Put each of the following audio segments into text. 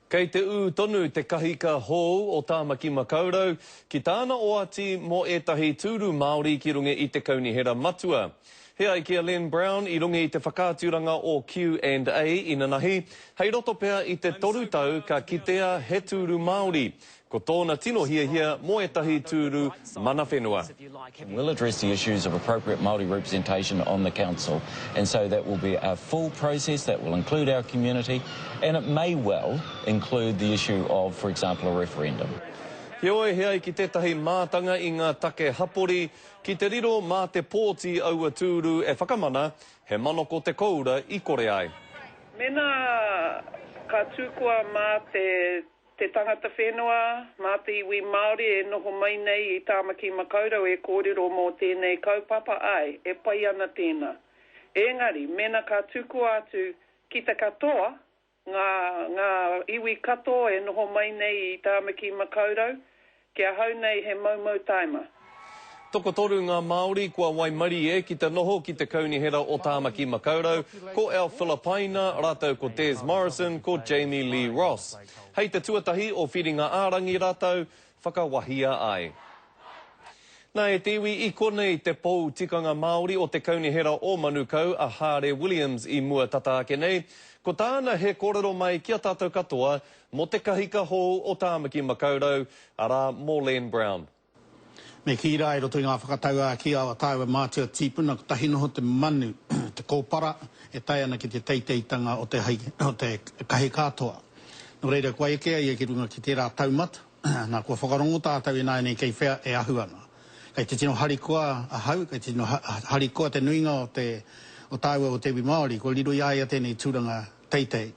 Kei te ū tonu te kahika hou o Tāmaki Makaurau ki tāna oati mō ētahi tūru Māori ki runga i te Kaunihera Matua. He ai ki a Len Brown i runga i te whakaaturanga o Q and A inanahi, hei roto pea i te toru tau ka kitea he tūru Māori, Ko tōna tino hiahia mō ētahi tūru mana whenua. and will address the issues of appropriate Māori representation on the Council and so that will be a full process that will include our community and it may well include the issue of, for example, a referendum. Heoi, he ai ki tētahi mātanga i ngā take hapori ki te riro mā te pōti aua tūru e whakamana he manoko te koura i kore ai. Mēnā ka tū koa mā te. Te tangata whenua, mā te iwi Māori e noho mai nei i Tāmaki Makaurau e kōrero mō tēnei kaupapa āe, e pai ana tēnā. Ēngari, mēnā ka tukua atu ki te katoa ngā, ngā iwi katoa e noho mai nei i Tāmaki Makaurau, Ki ahau nei he moumou taima. Tokotoru ngā Māori kua waimarie ki te noho ki te Kaunihera o Tāmaki Makaurau, ko Al Filopaina rātou ko Des Morrison, ko Jamie Lee Ross. Hei te tuatahi o Whiringa-ā-rangi rātou whakawahia ai. Nā e te iwi i konei te pou tikanga Māori o te Kaunihera o Manukau a Hāre Williams i mua tata ake nei. Ko tāna he kōrero mai ki a tātou katoa, Mō te kahika hou o Tāmaki Makaurau, arā, mō Len Brown. Me kī rā, i roto i ngā whakatauākī a tāua mātua tīpuna, kotahi noho te manu, te kōpara e tae ana ki te teiteitanga o te o te kahika toa. Nō reira, kua eke a ia ki runga ki tērā taumata, nā, kua whakarongo tātou ināianei kei whea e ahu ana. Kei te tino harikoa ahau, kei te tino harikoa te nuinga o te o tāua o te iwi Māori, kua riro i a ia tēnei tūranga Teitei.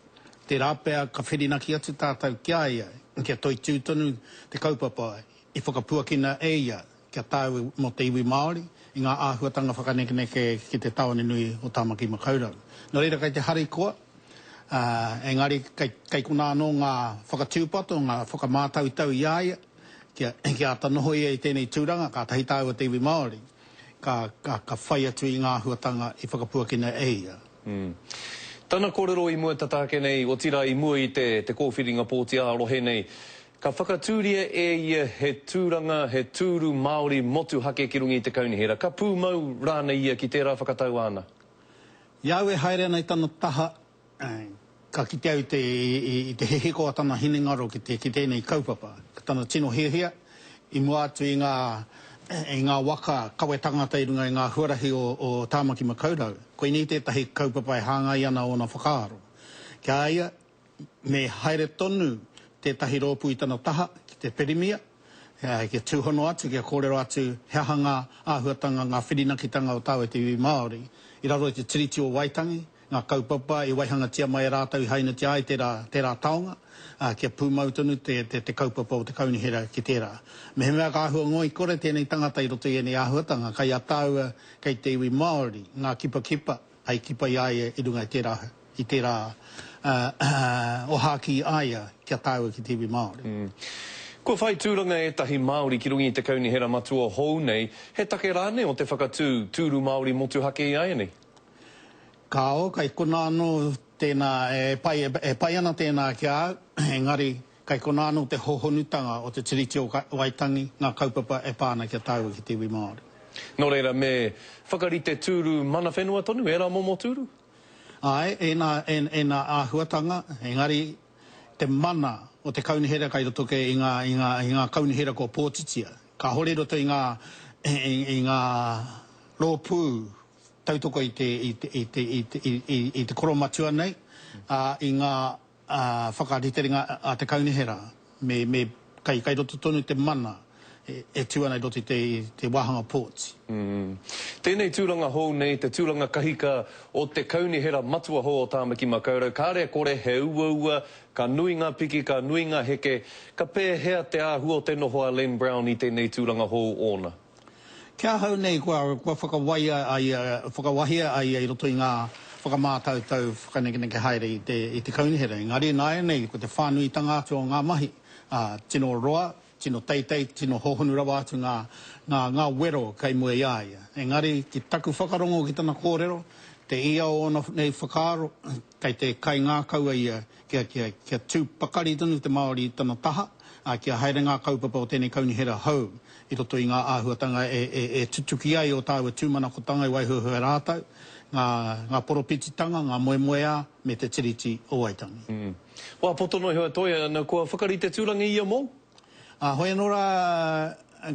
Tērā pea ka whirinaki atu tātou ki a ia kia toitū tonu te kaupapa i whakapuakina e ia ki a tāu mō te iwi Māori i ngā āhuatanga whakanekeneke ki te tāone nui o Tāmaki Makaurau. Nō reira kei te harikoa, ā, engari kei, kei konā anō ngā whakatūpato, ngā whakamātautau i a ia kia, kia āta noho ia i tēnei tūranga, kātahi tāua te iwi Māori. ka, ka, ka whai atu i ngā āhuatanga i whakapuakina e ia. Mm. Tana kōrero i mua tata ake nei, otirā i mua i te, te kōwhiringa pōti ā-rohe nei, ka whakatūria e ia he tūranga, he tūru Māori motuhake ki runga i te kaunihera. Ka pūmau rānei ia ki tērā whakatau āna? I au e haere ana i tana taha, Ka kite au i te hihiko a tana hinengaro ki tēnei kaupapa, ki tana tino hiahia i mua atu i ngā waka kawe tangata i runga i ngā huarahi o Tāmaki Makaurau. Koinei tētahi kaupapa e hāngai ana ōna whakaaro. Ki a ia, me haere tonu tētahi rōpū i tana taha ki te Pirimia, kia tūhono atu, kia kōrero atu he aha ngā āhuatanga, ngā whirinakitanga o tāua te iwi Māori i raro i te Tiriti o Waitangi, ngā kaupapa i waihangatia mai e rātou i hainatia ai tērā, tērā taonga, ā, kia pūmau tonu te, te, te kaupapa o te kaunihera ki tērā. Mehemea ka āhua ngoikore tēnei tangata i roto i ēnei āhuatanga, kei a tāua, kei te iwi Māori, ngā kipakipa hei kipa i a ia i runga i tērā, i tērā, ā, ohākī i a ia ki a tāua ki te iwi Māori. Kua whai tūranga ētahi Māori ki runga i te kaunihera matua hou nei, he take rānei o te whakatū, tūru Māori motuhake ināianei? Kāo, kei konā anō tēnā e pai, e pai ana tēnā ki a au, engari kei konā anō te hōhonutanga o te Tiriti o Waitangi, ngā kaupapa e pā ana ki a tāua ki te iwi Māori. Nō reira, me whakarite tūru mana whenua tonu ērā momo tūru? Āe, ēnā, ēnā āhuatanga, engari te mana o te kaunihera kei roto kē i ngā, i ngā, i ngā kaunihera kua pōtitia. Kāhore i roto i ngā, i ngā rōpū tautoko i te i te i te i te koromatua nei a i nga a whakariterenga a te kaunihera me me kai kai roto tonu te mana e tu ana i roto i te i te wahanga ports. Tēnei tūranga hou nei te tūranga kahika o te kaunihera matua hou o Tāmaki Makaurau kāre kore he uaua ka nui ngā piki ka nui ngā heke ka pēhea te āhua o te noho a Len Brown i tēnei tūranga hou ōna Ki ahau nei kua whakawaia a ia, whakawahia a ia i roto i ngā whakamātautau whakanekeneke haere i te kaunihera. Engari nāianei ko te whānuitanga atu o ngā mahi, tino roa, tino teitei, tino hōhonu rawa atu ngā wero kei mua i a ia. Engari ki taku whakarongo ki tana kōrero, te ia o ōna nei whakaaro, kei te kaingākaua ia kia, kia, kia tū pakari tonu te Māori i tana taha, ā, kia haere ngā kaupapa o tēnei kaunihera hou i roto i ngā āhuatanga e, e, e tutuki ai ō tāua tūmanakotanga i waihoehoe ai rātou, ngā, ngā poropititanga, ngā moemoeā, me te Tiriti o Waitangi. Wā poto noa iho a Toi, ā, na kua whakarite tūrangihia mō. Ā, hoi anō rā,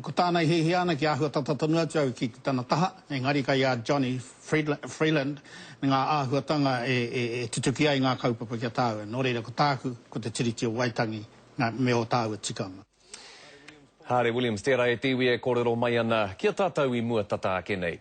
ko tāna i hiahia ana kia āhua tata tonu atu au ki tana taha, engari kei a Johnny Freeland ngā āhuatanga e tutuki ai ngā kaupapa ki a tāua. Nō reira, ko tāku, ko te Tiriti o Waitangi me ō tāua tikanga. Haare Williams, tērā e te iwi e kōrero mai ana ki a tātou i mua tata ake nei.